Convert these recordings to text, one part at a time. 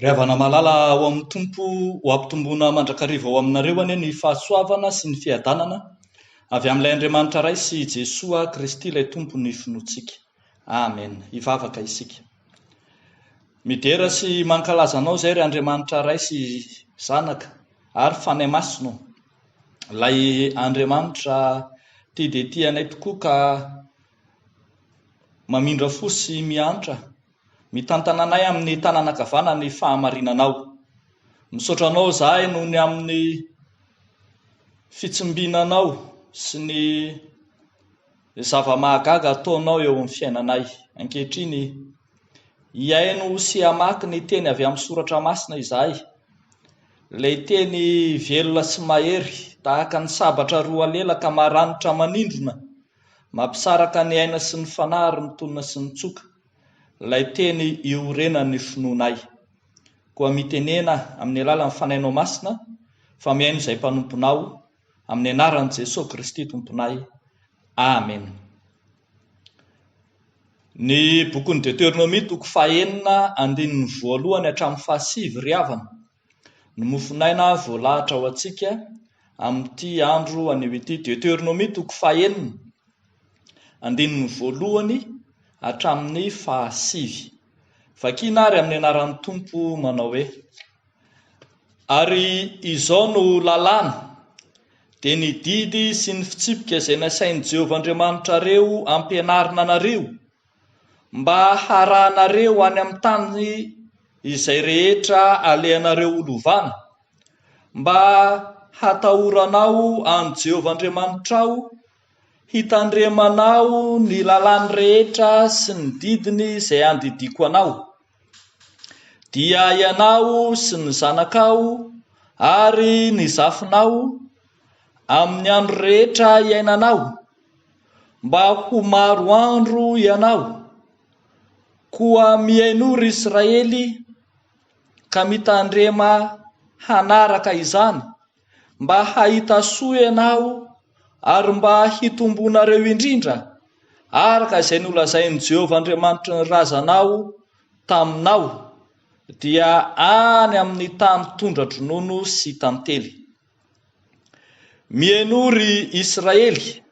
Ry havana malala ao amin'ny Tompo, ho ampitomboina mandrakariva ao aminareo anie ny fahasoavana sy ny fiadanana avy amin'ilay Andriamanitra Ray sy Jesoa Kristy ilay Tompo ny finoantsika. Amen. Hivavaka isika. Midera sy mankalaza Anao izay ry Andriamanitra Ray sy Zanaka ary Fanahy Masina ô. Ilay Andriamanitra tia dia tia anay tokoa ka mamindra fo sy miantra Mitantana anay amin'ny tanana ankavanana ny fahamarinanao. Misaotra anao izahay noho ny amin'ny fitsimbinanao sy ny zava-mahagaga ataonao eo amin'ny fiainanay. Ankehitriny, hihaino sy hamaky ny teny avy amin'ny Soratra Masina izahay, ilay teny velona sy mahery, tahaka ny sabatra roa lelaka maranitra manindrona, mampisaraka ny aina sy ny fanahy ary ny tolona sy ny tsoka. Ilay teny iorenan'ny finoanay. Koa mitenena amin'ny alalan'ny Fanahinao Masina fa mihaino izay mpanomponao amin'ny anaran'i Jesoa Kristy Tomponay. Amena. Ny bokin'ny Deteronomia toko fahenina andininy voalohany hatramin'ny fahasivy ry havana Ny mofonaina voalahatra ho antsika amin'ity andro anio ity. Deoteronomia toko fahenina, andininy voalohany hatramin'ny fahasivy. Vakina ary amin'ny anaran'ny Tompo manao hoe, Ary izao no lalàna, dia ny didy sy ny fitsipika izay nasain'i Jehovah Andriamanitrareo ampianarina anareo, mba harahanareo any amin'ny tany izay rehetra alehanareo holovana, mba hatahoranao an'i Jehovah Andriamanitrao, hitandremanao ny lalàny rehetra sy ny didiny izay andidiako anao, dia ianao sy ny zanakao ary ny zafinao, amin'ny andro rehetra iainanao. Mba ho maro andro ianao. Koa mihainoa, ry Israely, ka mitandrema hanaraka izany, mba hahita soa ianao ary mba hitombonareo indrindra, araka izay nolazain'i Jehovah Andriamanitry ny razanao taminao, dia any amin'ny tany tondra-dronono sy tantely. Mihainoa ry Israely,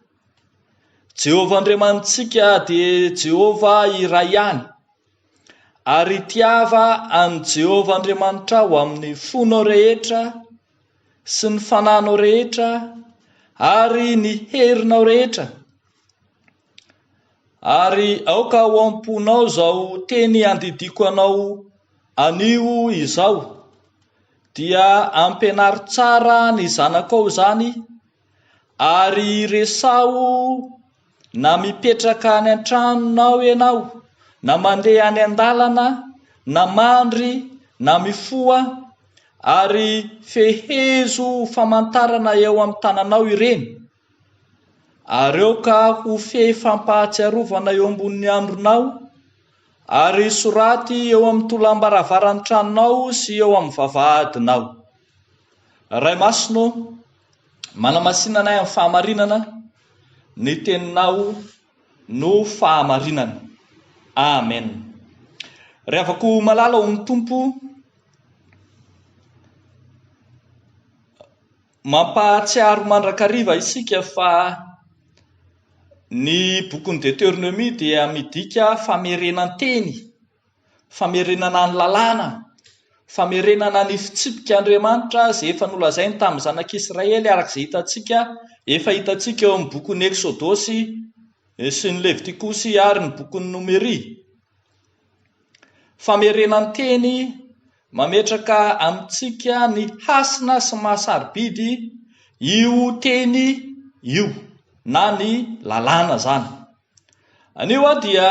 Jehovah Andriamanitsika dia Jehovah iray ihany, ary tiava an'i Jehovah Andriamanitrao amin'ny fonao rehetra sy ny fananao rehetra ary ny herinao rehetra. Ary aoka ao am-ponao izao teny handidiako anao anio izao, dia ampianaro tsara ny zanakao izany, ary resaho na mipetraka any an-tranonao ianao, na mandeha any an-dalana, na mandry, na mifoha, ary fehezo ho famantarana eo amin'ny tananao ireny, Ary aoka ho fehy fampahatsiarovana eo ambonin'ny andronao, ary soraty eo amin'ny tolàm-baravaran'ny tranonao sy eo amin'ny vavahadinao. Ray Masina ô, manamasina anay amin'ny fahamarinana, ny Teninao no fahamarinana. Amen. Ry havako malala ao amin'ny Tompo, Mampahatsiaro mandrakariva isika fa ny bokin'ny Deteronomia dia midika famerenan-teny, famerenana ny lalàna, famerenana ny fitsipika Andriamanitra izay efa nolazainy tamin'ny zanak'Israely araka izay hitantsika efa hitantsika eo amin'ny bokin'ny Eksodosy sy ny Levitikosy ary ny bokin'ny Nomeria. Famerenan-teny Mametraka amintsika ny hasina sy maha-sarobidy io teny io na ny lalàna izany. Anio aho dia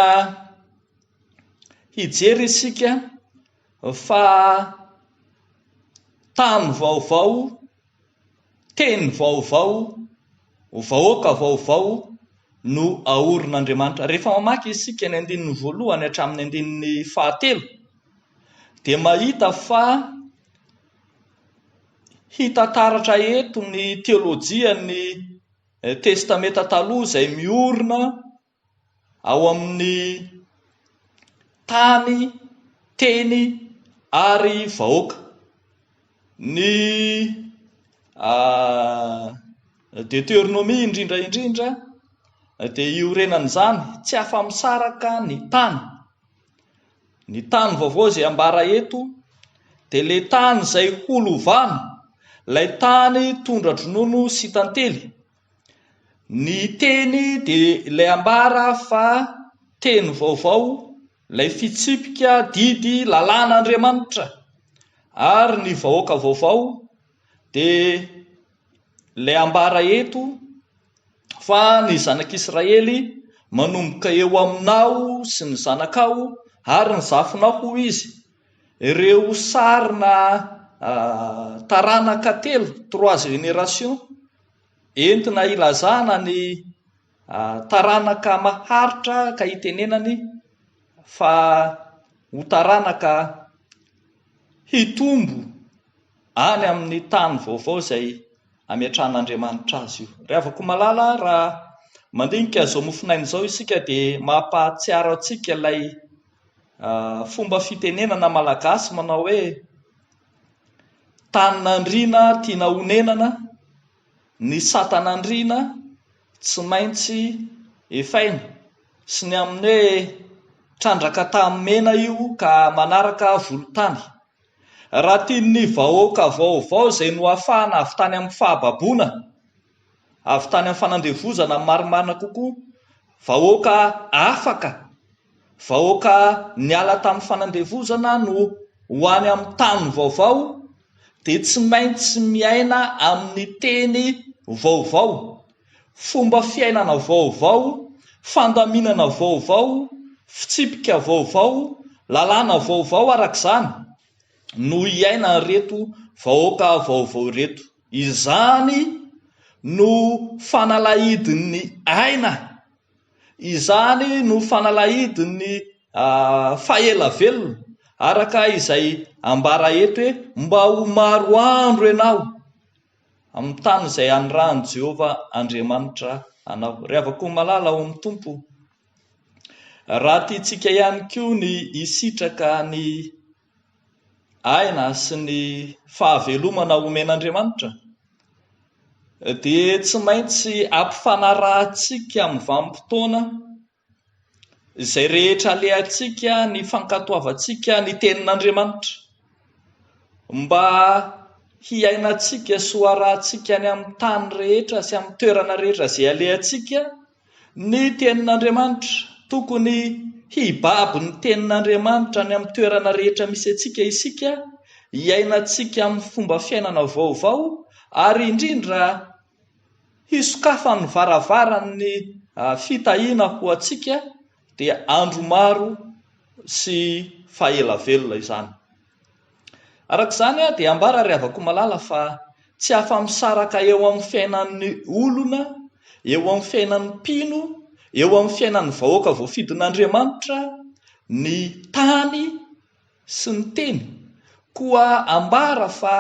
hijery isika fa tany vaovao Teny vaovao, vahoaka vaovao no aorin'Andriamanitra. Rehefa mamaky isika ny andininy voalohany hatramin'ny andininy fahatelo dia mahita fa hita taratra eto ny teolojian'ny Testamenta Taloha izay miorina ao amin'ny tany, teny ary vahoaka. Ny Deteronomia indrindra indrindra dia iorenan'izany, tsy afa-misaraka ny tany. Ny tany vaovao izay ambara eto dia ilay tany izay ho lovana, ilay tany tondra-dronono sy tantely. Ny teny dia ilay ambara fa teny vaovao, ilay fitsipika didy lalàn'Andriamanitra, ary ny vahoaka vaovao dia ilay ambara eto fa ny zanak'Israely manomboka eo aminao sy ny zanakao ary ny zafinao hoy izy, ireo sarina taranaka telo, trois générations. Entina ilazana ny taranaka maharitra ka hitenenany fa ho taranaka hitombo any amin'ny tany vaovao izay hametrahan'Andriamanitra azy io. Ry havako malala, raha mandinika izao mofonaina izao isika dia mampahatsiaro antsika ilay fomba fitenenana malagasy manao hoe Tanin'andriana tiana honenana, ny satan'andriana tsy maintsy efaina, sy ny amin'ny hoe trandraka tamin'ny mena io ka manaraka volontany. Raha tian'ny vahoaka vaovao izay noafahana avy tany amin'ny fahababoana, avy tany amin'ny fanandevozana ny marimarina kokoa, vahoaka afaka, Vahoaka niala tamin'ny fanandevozana no ho any amin'ny tany vaovao dia tsy maintsy miaina amin'ny teny vaovao, fomba fiainana vaovao, fandaminana vaovao, fitsipika vaovao, lalàna vaovao araka izany no iainan'ireto vahoaka vaovao ireto. Izany no fanalahidin'ny aina. Izany no fanalahidin'ny faha-ela-velona, araka izay ambara eto hoe, Mba ho maro andro ianao amin'ny tany izay anirahan'i Jehovah Andriamanitra anao. Ry havako malala ao amin'ny Tompo, raha tiantsika ihany koa ny hisitraka ny aina sy ny fahavelomana omen'Andriamanitra dia tsy maintsy ampifanarahantsika amin'ny vanim-potoana izay rehetra alehantsika ny fankatoavantsika ny tenin'Andriamanitra mba hiainantsika sy hoarahantsika any amin'ny tany rehetra sy amin'ny toerana rehetra izay alehantsika Ny Tenin'Andriamanitra. Tokony hibaby ny Tenin'Andriamanitra any amin'ny toerana rehetra misy antsika isika, hiainantsika amin'ny fomba fiainana vaovao, ary indrindra hisokafan'ny varavaran'ny fitahiana ho antsika, Dia andro maro sy fahaela velona izany. Araka izany dia ambara ry Havakomalala fa tsy afa-misaraka eo amin'ny fiainan'ny olona, eo amin'ny fiainan'ny mpino, eo amin'ny fiainan'ny vahoaka voafidin'Andriamanitra ny tany, sy ny teny, koa ambara fa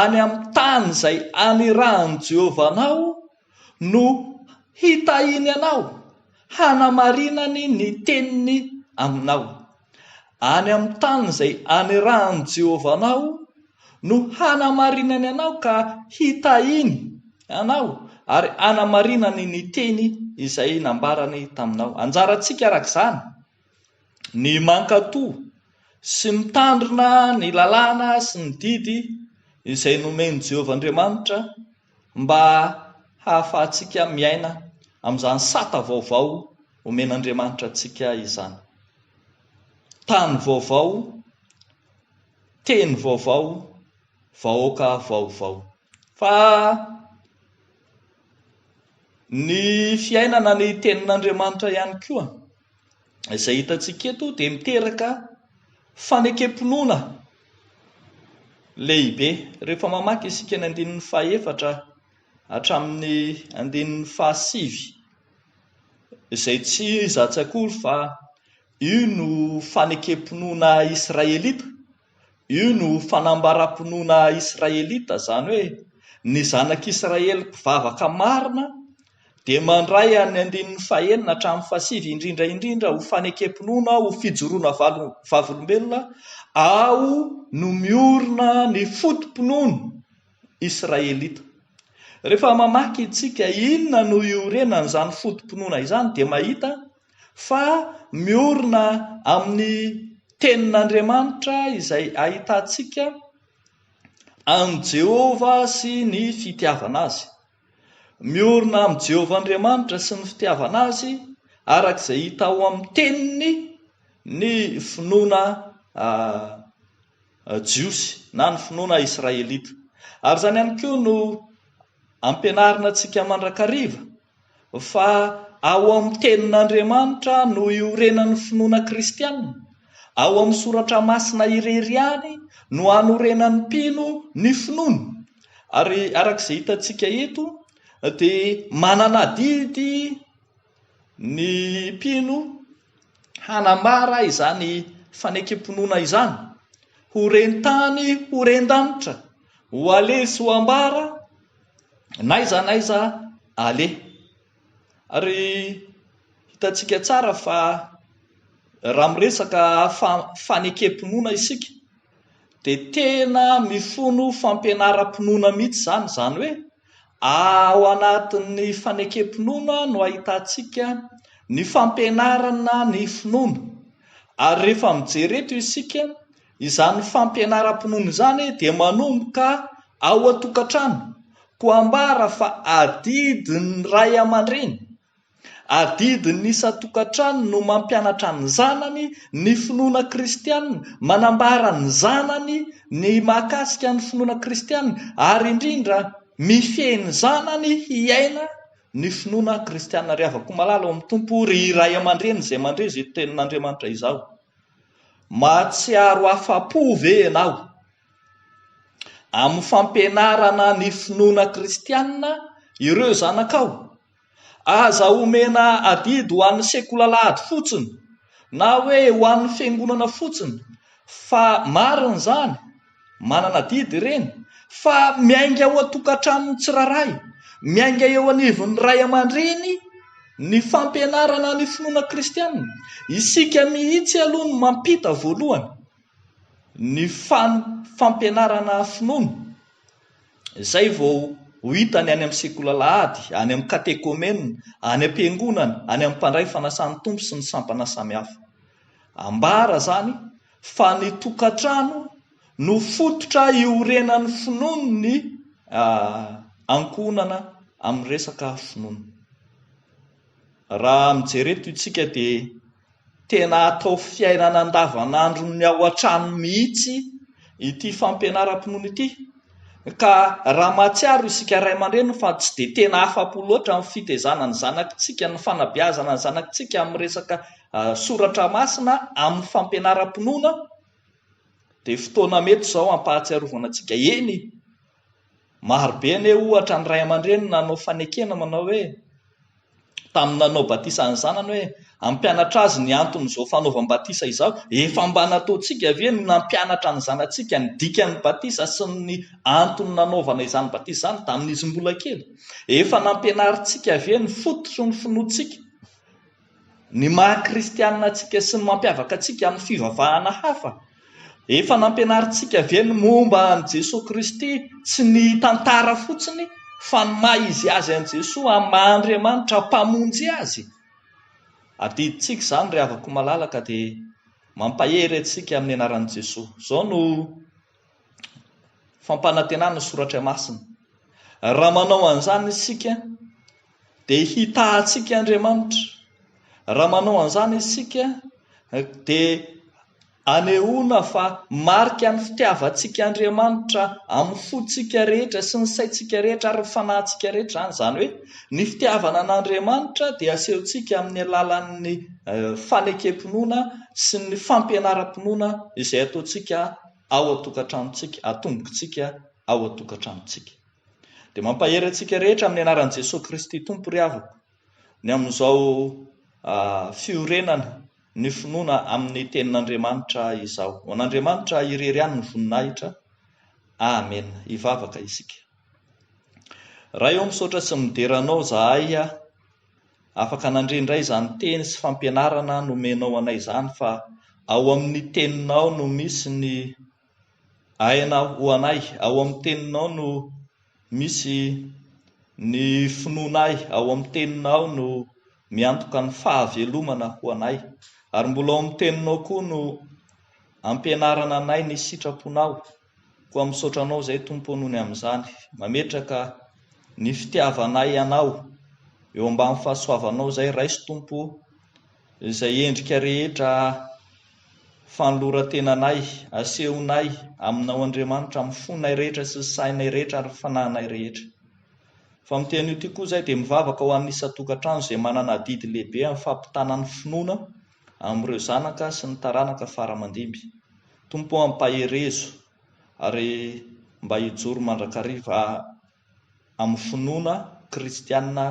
any amin'ny tany izay anirahan'i Jehovah anao no hitahiany anao, hanamarinany ny teniny aminao. Any amin'ny tany izay anirahan'i Jehovah anao no hanamarinany anao ka hitahiany anao ary hanamarinany ny teny izay nambarany taminao. Anjarantsika, araka izany, ny mankato sy mitandrina ny lalàna sy ny didy izay nomen'i Jehovah Andriamanitra mba hahafahantsika miaina amin'izany sata vaovao omen'Andriamanitra antsika izany. Tany vaovao, teny vaovao, vahoaka vaovao. Fa ny fiainana ny tenin'Andriamanitra ihany koa. izay hitantsika eto dia miteraka fanekem-pinoana lehibe. Rehefa mamaky isika ny andininy fahefatra hatramin'ny andininy fahasivy, izay tsy iza tsy akory fa io no fanekem-pinoana israelita. Io no fanambaram-pinoana Israelita, izany hoe ny zanak'Israely mpivavaka marina dia mandray an'ny andininy fahenina hatramin'ny fahasivy indrindra indrindra ho fanekem-pinoana ho fijoroana vavolombelona ao no miorina ny foto-pinoana Israelita. Rehefa mamaky isika inona no iorenan'izany foto-pinoana izany dia mahita Fa miorina amin'ny Tenin'Andriamanitra izay ahitantsika an'i Jehovah sy ny fitiavana azy. Miorina amin'i Jehovah Andriamanitra sy ny fitiavana azy, araka izay hita ao amin'ny Teniny, ny finoana jiosy, na ny finoana israelita. Ary izany ihany koa no ampianarina antsika mandrakariva. Fa ao amin'ny Tenin'Andriamanitra no iorenan'ny finoana kristiana. Ao amin'ny Soratra Masina irery ihany no hanorenan'ny mpino ny finoany. Ary araka izay hitantsika eto dia manana adidy ny mpino hanambara izany fanekem-pinoana izany ho ren-tany, ho ren-danitra, ho aleha sy ho ambara, N'aiza n'aiza aleha. Ary hitantsika tsara fa raha miresaka fanekem-pinoana isika dia tena mifono fampianaram-pinoana mihitsy izany. Izany hoe ao anatin'ny fanekem-pinoana no ahitantsika ny fampianarana ny finoana. Ary rehefa mijery eto isika... Izany fampianaram-pinoana izany dia manomboka ao an-tokantrano, koa ambara fa adidin'ny ray aman-dreny, adidin'ny isan-tokantrano no mampianatra ny zanany ny finoana kristiana, manambara ny zanany ny mahakasika ny finoana kristiana ary indrindra mifehy ny zanany hiaina ny finoana kristiana. Ry havako malala ao amin'ny Tompo, ry ray aman-dreny izay mandre izao tenin'Andriamanitra izao, Mahatsiaro afa-po ve ianao amin'ny fampianarana ny finoana kristianina ireo zanakao? Aza omena adidy ho an'ny sekolaladry fotsiny na hoe ho an'ny fiangonana fotsiny fa marina izany Manana adidy ireny fa miainga ao an-tokantranon'ny tsirairay. Miainga eo anivon'ny ray aman-dreny ny fampianarana ny finoana kristiana. Isika mihitsy aloha no mampita voalohany ny fampianarana finoana, izay vao ho hita ny any amin'ny sekoly alahady, any amin'ny katekomenina, any am-piangonana, any amin'ny mpandray fanasan'ny Tompo sy ny sampana samihafa. Ambara izany. fa ny tokantrano no fototra iorenan'ny finoan'ny ankohonana amin'ny resaka finoana. Raha mijery eto isika dia tena atao fiainana andavanandron'ny ao an-trano mihitsy ity fampianaram-pinoana ity ka raha mahatsiaro isika ray aman-dreny fa tsy dia tena afa-po loatra amin'ny fitezana ny zanakintsika, ny fanabeazana ny zanakintsika amin'ny resaka Soratra Masina amin'ny fampianaram-pinoana dia fotoana mety izao hampahatsiarovana antsika, eny, maro be anie ohatra ny ray aman-dreny nanao fanekena manao hoe, tamin'ny nanao batisa ny zanany hoe, hampianatra azy ny anton'izao fanaovam-batisa izao, efa mba nataontsika ve ny nampianatra ny zanatsika ny dikan'ny batisa sy ny antony nanaovana izany batisa izany tamin'izy mbola kely? Efa nampianarintsika ve ny foto sy ny finoantsika Ny maha kristianina antsika sy ny mampiavaka antsika amin'ny fivavahana hafa? Efa nampianarintsika ve ny momba an'i Jesoa Kristy tsy ny tantara fotsiny fa ny maha izy Azy an'i Jesoa amin'ny maha Andriamanitra Mpamonjy Azy? Adidintsika izany ry havako malalaka dia mampahery antsika amin'ny anaran'i Jesoa. Izao no. fampanantenana ny soratra masina. Raha manao an'izany isika dia hitahantsika Andriamanitra. Raha manao an'izany isika dia anehoana fa marika ny fitiavantsika Andriamanitra amin'ny fontsika rehetra sy ny saintsika rehetra ary ny fanahintsika rehetra izany. Izany hoe ny fitiavana an'Andriamanitra dia asehontsika amin'ny alalan'ny eh, fanekempinoana sy ny fampianaram-pinoana izay ataontsika ao an-tokantranontsika, atombokintsika ao an-tokantranontsika. Dia mampahery antsika rehetra amin'ny anaran'i Jesoa Kristy Tompo ry havako, ny amin'izao fiorenana ny finoana amin'ny Tenin'Andriamanitra izao. Ho an'Andriamanitra irery ihany ny voninahitra. Amena. Hivavaka isika. Ray ô, misaotra sy midera Anao zahay Afaka nandre indray izany teny sy fampianarana nomenao anay izany fa ao amin'ny teninao no misy ny aina ho anay, ao amin'ny teninao no misy ny finoanay, ao amin'ny teninao no miantoka ny fahavelomana ho anay. Ary mbola ao amin'ny teninao koa no ampianarana anay ny sitraponao. Koa misaotra Anao izay Tompo o noho ny amin'izany, mametraka ny fitiavanay Anao eo ambany fahasoavanao izay, raiso Tompo o izay endrika rehetra fanoloran-tenanay, asehonay Aminao Andriamanitra amin'ny fonay rehetra sy sainay rehetra ary fanahinay rehetra. Fa amin'ity anio ity koa izay dia mivavaka ho an'ny isan-tokantrano izay manana adidy lehibe amin'ny fampitana ny finoana amin'ireo zanaka sy ny taranaka fara aman-dimby. Tompo ô ampaherezo ary mba hijoro mandrakariva amin'ny finoana kristiana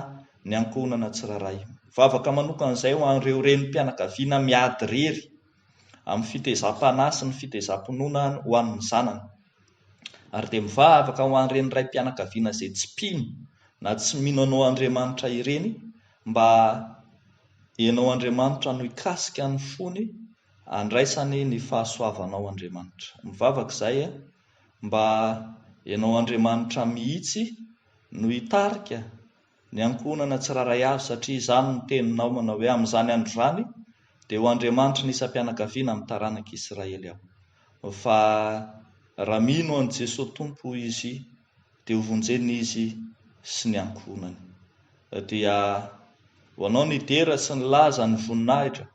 ny ankohonana tsirairay. Mivavaka manokana izay ho an'ireo renim-pianakaviana miady irery amin'ny fitezam-panahy sy ny fitezam-pinoana ho an'ny zanany. Ary dia mivavaka ho an'ireny raim-pianakaviana izay tsy mpino na tsy mino anao Andriamanitra ireny mba Enao Andriamanitra no hikasika ny fony andraisany ny fahasoavanao Andriamanitra. Mivavaka izahay a, mba Enao Andriamanitra mihitsy no hitarika ny ankohonana tsiraray avy satria izany no teninao manao hoe amin'izany andro izany dia ho Andriamanitry ny isam-pianakaviana amin'ny taranak'i Israely aho fa raha mino an'i Jesoa Tompo izy dia ho vonjena izy sy ny ankohonany. Dia ho anao ny dera sy ny laza, ny voninahitra,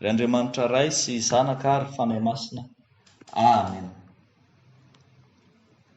ry Andriamanitra Ray sy Zanaka ary Fanahy Masina. Amena.